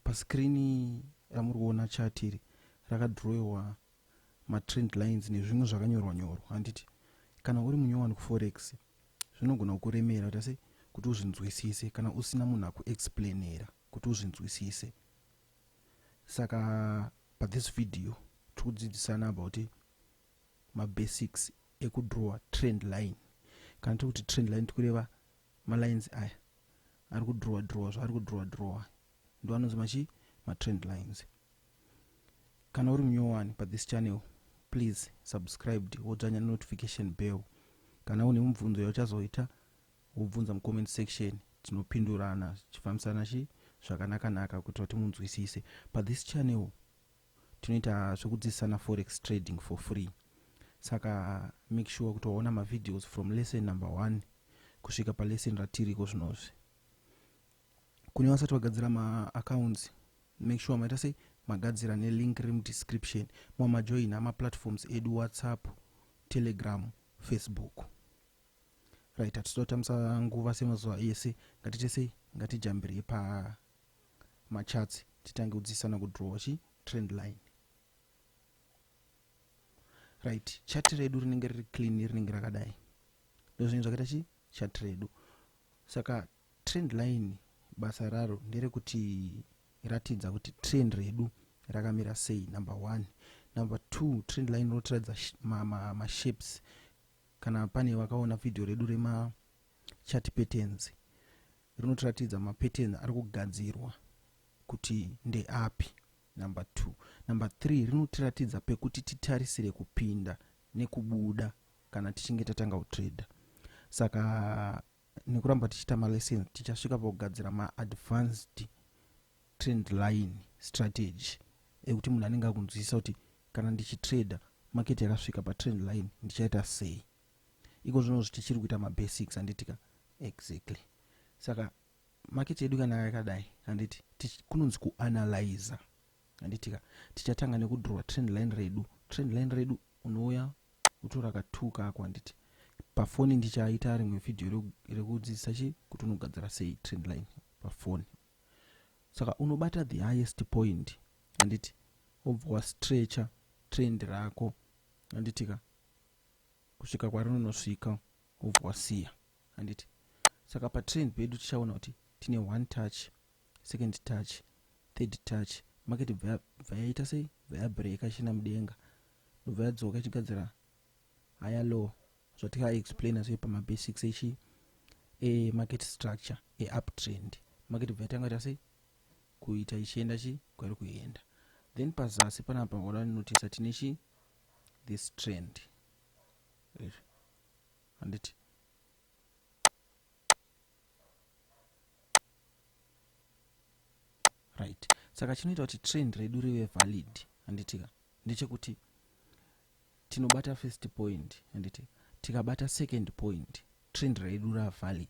Paskirini ramuri kuona chart iri rakadhirowewa matrend lines nezvimwe zvakanyorwa nyorwa handiti kana uri munyowani kuforex zvinogona kukuremera kuita sei kuti uzvinzwisise kana usina munhu akuexplainera kuti uzvinzwisise saka pathis video tiri kudzidzisana about mabasics ekudrowa trend line kana tiri kuti trend line tikureva malines aya ari kudhurowa dhurowa zvaari kudhurowa dhurowa aya ndo anonzi machi matrend lines kana uri munyowani pathis channel please subscribed wodzvanya nenotification bell kana une mubvunzo yauchazoita wobvunza mucomment section tinopindurana tichifambisana chi zvakanakanaka kuitira kuti munzwisise pathis channel tinoita zvekudzidzisana forex trading for free saka make sure kuti waona mavideos from lesson number one kusvika palesson ratiriko zvinozvi kune vasati vagadzira maaccounts make sure maita sei magadzira nelink riri mudescription mwa majoina maplatforms edu whatsapp telegram facebook right hatitoda kutambisa nguva semazuva ese ngatite sei ngatijambirei pa macharts titange kudzidzisana kudrawa chi trend line right chat redu rinenge riri clean rinenge rakadai ndozvinenge zvakaita chi chat redu saka trend line basa raro nderekuti ratidza kuti trend redu rakamira sei number one number two trend line rotiratidza mashapes ma, ma kana pane vakaona vhidhiyo redu rema Chart patterns rinotiratidza mapatterns ari kugadzirwa kuti ndeapi number two number three rinotiratidza pekuti titarisire kupinda nekubuda kana tichinge tatanga kutrader saka nekuramba tichiita malessons tichasvika pakugadzira maadvanced trend line strategy ekuti munhu anenge akunzwisisa kuti kana ndichitrader market yakasvika patrend line ndichaita sei iko zvino tichiri kuita mabasics handitika exactly saka maketi yedu kana yakadai handiti kunonzi kuanalyza handitika tichatanga nekudrowa trend line redu trend line redu unouya utora katuu kako handiti pafoni ndichaita rimwe vhidhiyo rekudzidzisa chi kuti unogadzira sei trend line pafoni saka unobata the highest point handiti wobva wastretcha trend rako handitika kusvika kwarinonosvika wobva wasiya handiti saka patrend pedu tichaona kuti tine one touch second touch third touch market bva yaita sei bva yabreka ichienda mudenga ndobva yadzoka ichigadzira higher low zvatikaaexplaina zve pamabasics echi emarket structure euptrend market bva yatanga ita sei kuita ichienda chi kwari kuenda then pazasi panapa wada notisa tine chi this trend handiti right saka chinoita kuti trend redu rive valid handitika ndechekuti tinobata first point handiti tikabata second point trend redu ravalid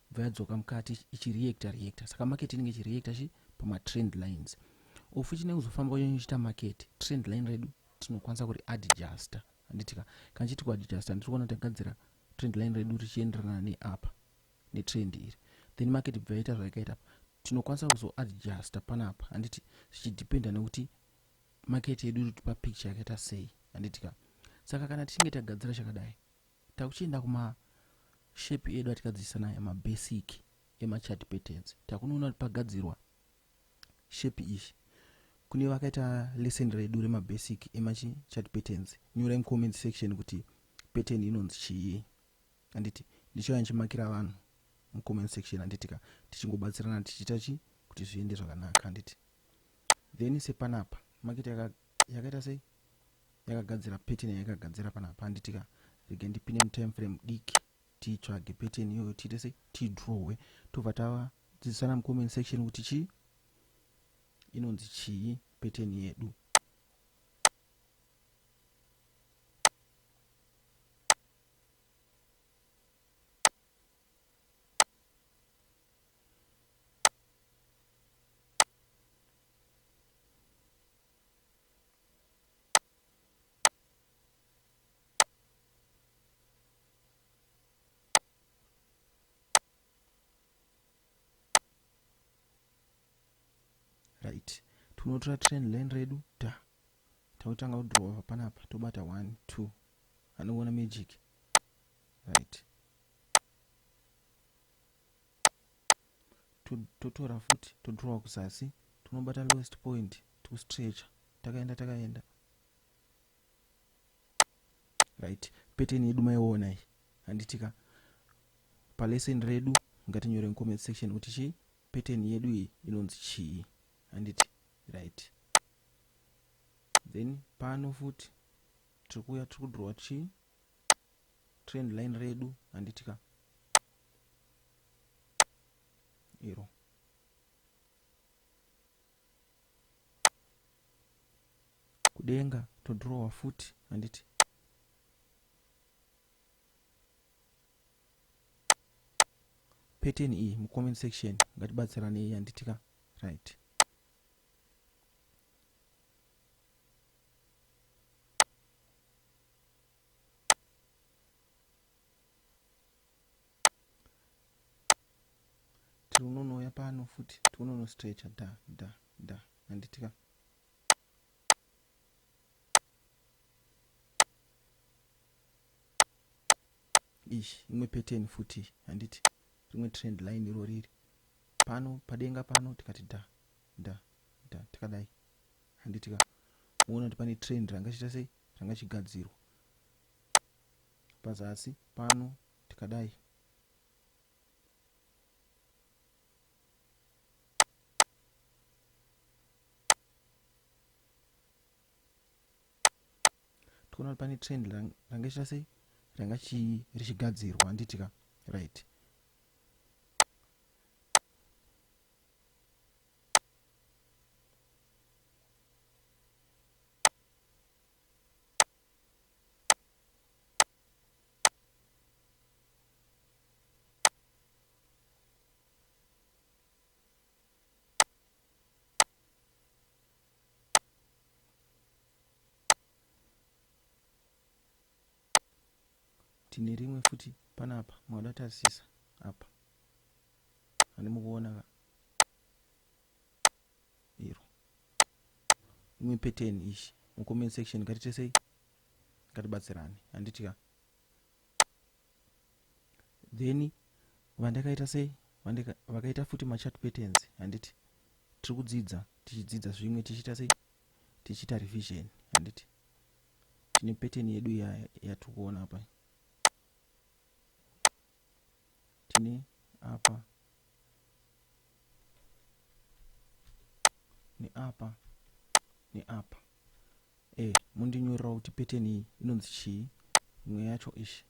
bva yadzoka mukati ichireacta reacta saka market inenge ichireacta chi pamatrend lines ofu chinenge kuzofamba kunyanya ichiita market trend line redu tinokwanisa kuri adjusta handitika kana chiti kuadjusta ndiri kuona tagadzira trend line redu richienderana neapa netrend iri then market bva yaita zvaikaita apa tinokwanisa kuzoadjusta panapa handiti zvichidependa nekuti market yedu irikuti picture yakaita sei handitika saka kana tichinge tagadzira chakadai Takuchienda kuma shape edu atikadzidzisa nayo mabasic emachart patterns takunoona kuti pagadzirwa shape ishi kune vakaita lesson redu remabasic emachart patterns nyorai mucomment section kuti pattern inonzi chii handiti ndichauya ndichimakira vanhu mucomment section handitika tichingobatsirana tichiita chi kuti zviende zvakanaka handiti then sepanapa makita yakaita sei yakagadzira pattern yayakagadzira panapa handitika rege ndipinde mutime frame diki titsvage pattern iyoyo tiite sei tidrowe tobva tavadzidzisana mucomment section kuti chii inonzi chii pattern yedu right tinotora train line redu ta tautanga kudrowa panapa tobata one two anoona magic right totora futi todrowa kuzasi tinobata lowest point tikustretcha takaenda takaenda right peteni yedu maiona iyi handitika palesson redu ngatinyore mucomment section kuti chii peteni yedu iyi inonzi chii handiti right then pano futi tiri kuuya tiri kudrowa chii trend line redu handiti ka iro kudenga todrowa futi handiti pattern iyi mucomment section ngatibatsiranei handiti ka right tiunonouya pano futi tiunonostretcha da da da handitika ish imwe pattern futi handiti rimwe trend line iro riri pano padenga pano tikati da da da tikadai handitika muona kuti pane trend ranga chiita sei changa chigadzirwa pazasi pano tikadai tikuona kuti pane trend ranga ichita sei ranga richigadzirwa anditika right tine rimwe futi panapa maudatasisa apa ani mukuona ka iro imwe pattern ishi mucomment section ngatitesei ngatibatsirane handiti ka then vandakaita sei vakaita futi machat patterns handiti tiri kudzidza tichidzidza zvimwe tichiita sei tichiita revision handiti tine pattern yedu yatiri kuona apa tine apa neapa neapa e eh, mundinyorerawo kuti pattern iyi inonzi chii imwe yacho ishi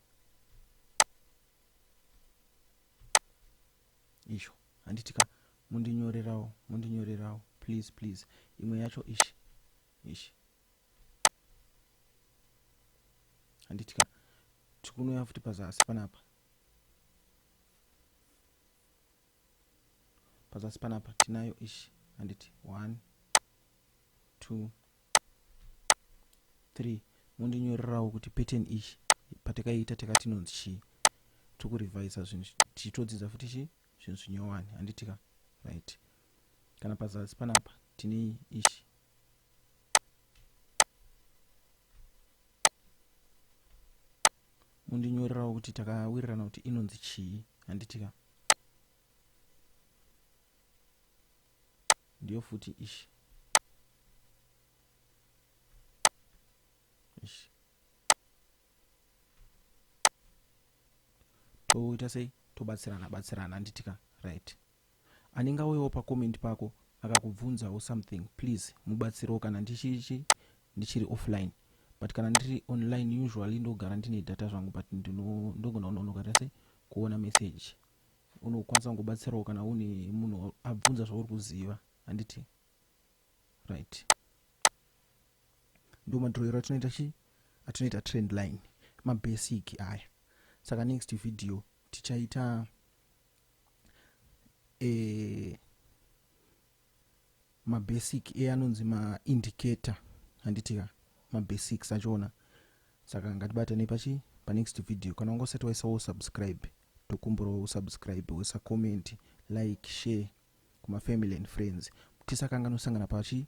isho handitika mundinyorerawo mundinyorerawo please please imwe yacho ishi ishi handiti ka tikunoya futi pazasi panapa pazasi panapa tinayo ishi handiti one two three mondinyorerawo kuti pattern ishi patakaita takatinonzi chii tiri kurevisa zvinhu tichitodzidza futi chii zvinhu zvinyowani handiti ka right kana pazasi panapa tine ishi mundinyorerawo kuti takawirirana kuti inonzi chii handiti ka ndiyo futi ishi ishi toita sei tobatsirana batsirana anditika right anenge auyawo pacomment pako akakubvunzawo something please mubatsirewo kana ndichichi ndichiri offline but kana ndiri online usually ndogara ndine data zvangu but ndogona kunonokaita sei kuona message unokwanisa kungobatsirawo kana une munhu abvunza zvauri kuziva handiti right ndo madhroyero atinoita chi atinoita trend line mabasic aya saka next video tichaita e, mabasic eanonzi maindicator handitika mabasics achoona saka ngatibatane pachi panext video kana wanga usati waisawo subscribe Tokumbirawo u subscribe woisa comment, like, share kuma family and friends tisakanganwe kusangana pachi.